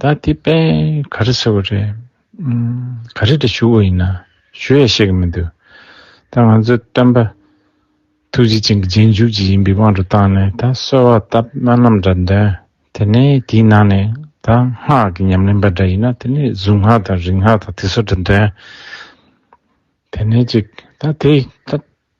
ད་དེ་དཔེ་ག་རེ་ཟེར་བ་རེད། ག་རེ་དྲ་ཞུ་བ་ཡིན་ན་ཞུ་ཡ་ཤེས་ཀྱི་མི་འདུག་ད་ང་ཚོའི་སྟོན་པ་ཐུགས་རྗེ་ཅན་གྱི་རྗེས་འཇུག་ཅིག་ཡིན་པའི་དབང་དུ་བཏང་ནས་ད་གསོལ་བ་བཏབ་སྨོན་ལམ་འདྲ་འདོན་དེ་ནས་དེའི་ནང་ནས་ད་སྔགས་ཀྱི་ཉམས་ལེན་པ་འདྲ་ཡིན་ན་དེ་ནས་གཟུངས་སྔགས་དང་རིག་སྔགས་དང་དེ་ཚོ་འདྲ་འདོན་དེ་ནས་ཅིག་ད་དེ་ད་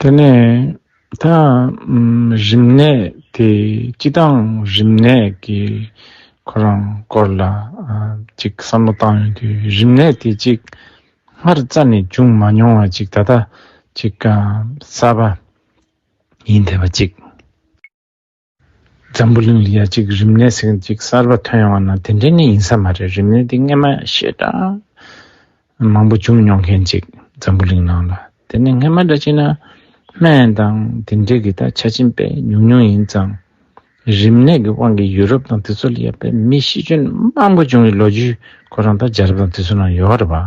དེ་ནས་ད་རིམས་ནད་དེ་ཅི་དང་རིམས་ནད་ཀྱི་ཁོ་རང་སྐོར་ལ་ཅིག་བསམ་བློ་བཏང་ཡོང་དུས་རིམས་ནད་དེ་ཅིག་སྔར་རྩ་ནས་བྱུང་མ་མྱོང་བ་ཅིག་ད་ལྟ་ཅིག་གསར་པ་ཡིན་བསྡད་པ་ཅིག། འཛམ་བུ་གླིང་ལ་ཡ་གཅིག་རིམས་ནད་ཟེར་གཅིག་གསར་པ་ཐོན་ཡོང་བ་ན་དེ་འདྲའི་ནི་ཡིན་ས་མ་རེད་རིམས་ནད་འདི་སྔས་མ་ཤེས་འདྲ་མང་པོ་བྱུང་མྱོང་མཁན་ཅིག་འཛམ་བུ་གླིང་ནང་ལ་དེ་ནི་སྔས་མ་འདྲ་གཅིག་ན་སྨན་དང་དེ་འདྲས་གི་ད་ཆ་ཆིན་པས་ཉུང་ཉུང་ཡིན་ཙང་རིམས་ནད་གི་དབང་གིས་ཡུ་རོབ་དང་དེ་ཚོ་ལ་ཡ་པའི་མི་ཤི་གྱོན་མང་པོ་བྱུང་བའི་ལོ་རྒྱུས་ཁོ་རང་ད་རྒྱ་རབ་དང་དེ་ཚོ་ནང་ཡོད་རེད་བ།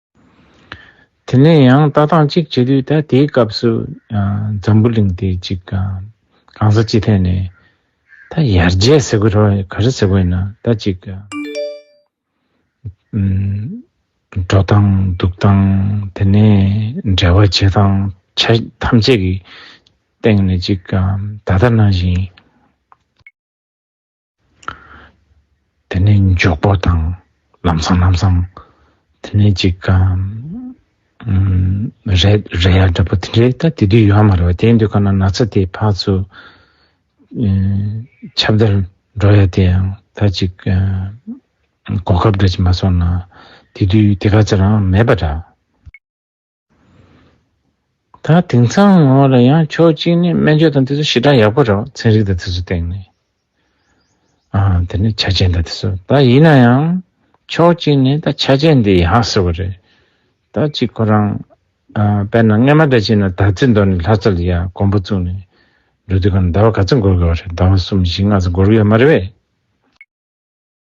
དེ་ནས་ཡང་ལྟ་སྟངས་གཅིག་བྱེད་དུས་ད་དེའི་སྐབས་སུ་འཛམ་བུ་གླིང་དེ་གཅིག་གང་ས་ཅི་ཐད་ནས་ད་ཡར་རྒྱས་ཟེར་དགོས་དྲོ་ག་རེ་ཟེར་དགོས་ཡིན་ན་ད་གཅིག་འགྲོ་སྟངས་འདུག་སྟངས་དེ་ནས་འབྲེལ་བ་བྱེད་སྟངས་ཆ་ཐམས་ཅད་ཀྱི་སྟེང་ནས་གཅིག་གང་ད་ལྟ་ནང་བཞིན། དེ་ནས་མགྱོགས་པོ་དང་ལམ་སང་ལམ་སང། དེ་ནས་ཅིག་ག་རེད་རེད་ཡ་འདྲ་པོ་དེ་འདྲའི་ད་དེ་དུས་ཡོད་མ་རེད་བ་དེའི་འདུས་ཁ་ན་ན་ཚ་དེའི་ཕག་ཚོ་ཆབ་བདར་འགྲོ་ཡ་དེ་ཡང་ད་ཅིག་ག་གོ་སྐབས་འདྲ་ཅིག་མ་སོང་ན་དེ་དུས་དེ་ག་ཚོད་རང་མེད་པ་འདྲ། ད་དེང་སང་ངོ་ལ་ཡང་ཕྱོགས་གཅིག་ནས་སྨན་བཅོས་དང་དེ་ཚོ་ཞི་དྲག་ཡག་པོ་རེད་ཚན་རིག་དང་དེ་ཚོ་སྟེང་ནས་དེ་ནས་ཆ་རྐྱེན་དང་དེ་ཚོ་ད་ཡིན་ན་ཡང་ཕྱོགས་གཅིག་ནས་ད་ཆ་རྐྱེན་འདི་ཡག་ཟེར་བ་རེད་ད་གཅིག་ཁོ་རང་དཔེར་ན་རྔན་མ་འདྲ་བྱས་ན་ད་ཚེ་མདོ་ནས་ལྷ་རྩ་ལ་ཡ་དགོན་པོ་བཙུགས་ནས་འགྲོ་དུས་གང་ཟླ་བ་ག་ཚོད་འགོར་དགོས་བ་རེད་ཟླ་བ་གསུམ་བཞི་ལྔ་ཚོ་འགོར་གི་ཡོད་མ་རེད་བས།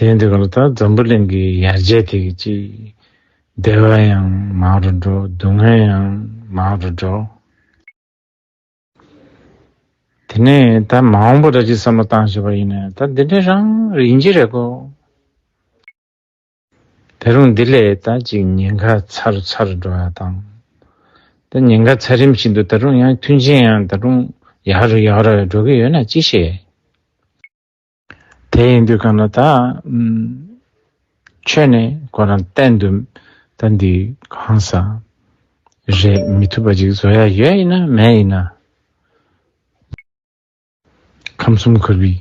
དེའི་འདི་ག་ལ་ད་འཛམ་བུ་གླིང་གི་ཡར་རྒྱས་དེ་གི་ཅིག། བདེ་བ་ཡང་མང་རུ་འགྲོ་སྡུག་བསྔལ་ཡང་མང་རུ་འགྲོ། དེ་ནས་ད་མང་པོ་རེ་ཅིག་བསམ་བློ་བཏང་ཞེས་པ་ཡིན་ནས་ད་འདི་འདྲའི་རང་རེ་ཡིན་གྱི་རེད་གོ། དེ་རུང་འདི་ལས་ད་ཅིག་ཉེན་ཁ་ཚ་རུ་ཚ་རུ་འགྲོ་ཡག་དང། ད་ཉེན་ཁ་ཚ་རིམ་བཞིན་དུ་ད་རུང་ཡང་མཐུན་རྐྱེན་ཡང་ད་རུང་ཡག་རུ་ཡག་རུ་འགྲོ་གི་ཡོད་ན་ཅི་ཤེས། དེ་ཡིན་དུས་གང་ན་ད་ཁྱོད་ནས་ཁོ་རང་བསྟན་དུ་ད་འདི་གང་ཟ་རེད་མི་ཐུབ་པ་ཅིག་བཟོ་ཡ་ཡོད་ཡིན་ན་མེད་ཡིན་ན། ཁམས་གསུམ་འཁོར་བའི་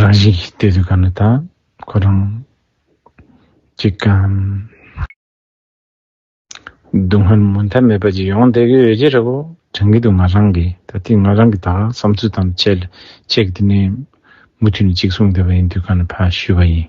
རང་བཞིན་གྱིས་བལྟས་དུས་གང་ན་ད་ཁོ་རང་ཅིག་གམ། སྡུག་བསྔལ་མུ་མཐའ་མེད་པ་ཅིག་ཡོང་བསྡད་ཀྱི་ཡོད་ཀྱི་རེད་བོ། དྲན་གྱི་འདུག་ང་རང་གིས་ད་ལྟའི་ང་རང་གི་དག་བསམ་ཚུལ་དང་བཅས་ལ་ཁྱེད་ཀྱི་དེ་ནས་མུ་མཐུད་ནས་གཅིག་གསུང་བསྡད་པ་ཡིན་དུས་ག་ནས་ཕ་ཞུས་པ་ཡིན།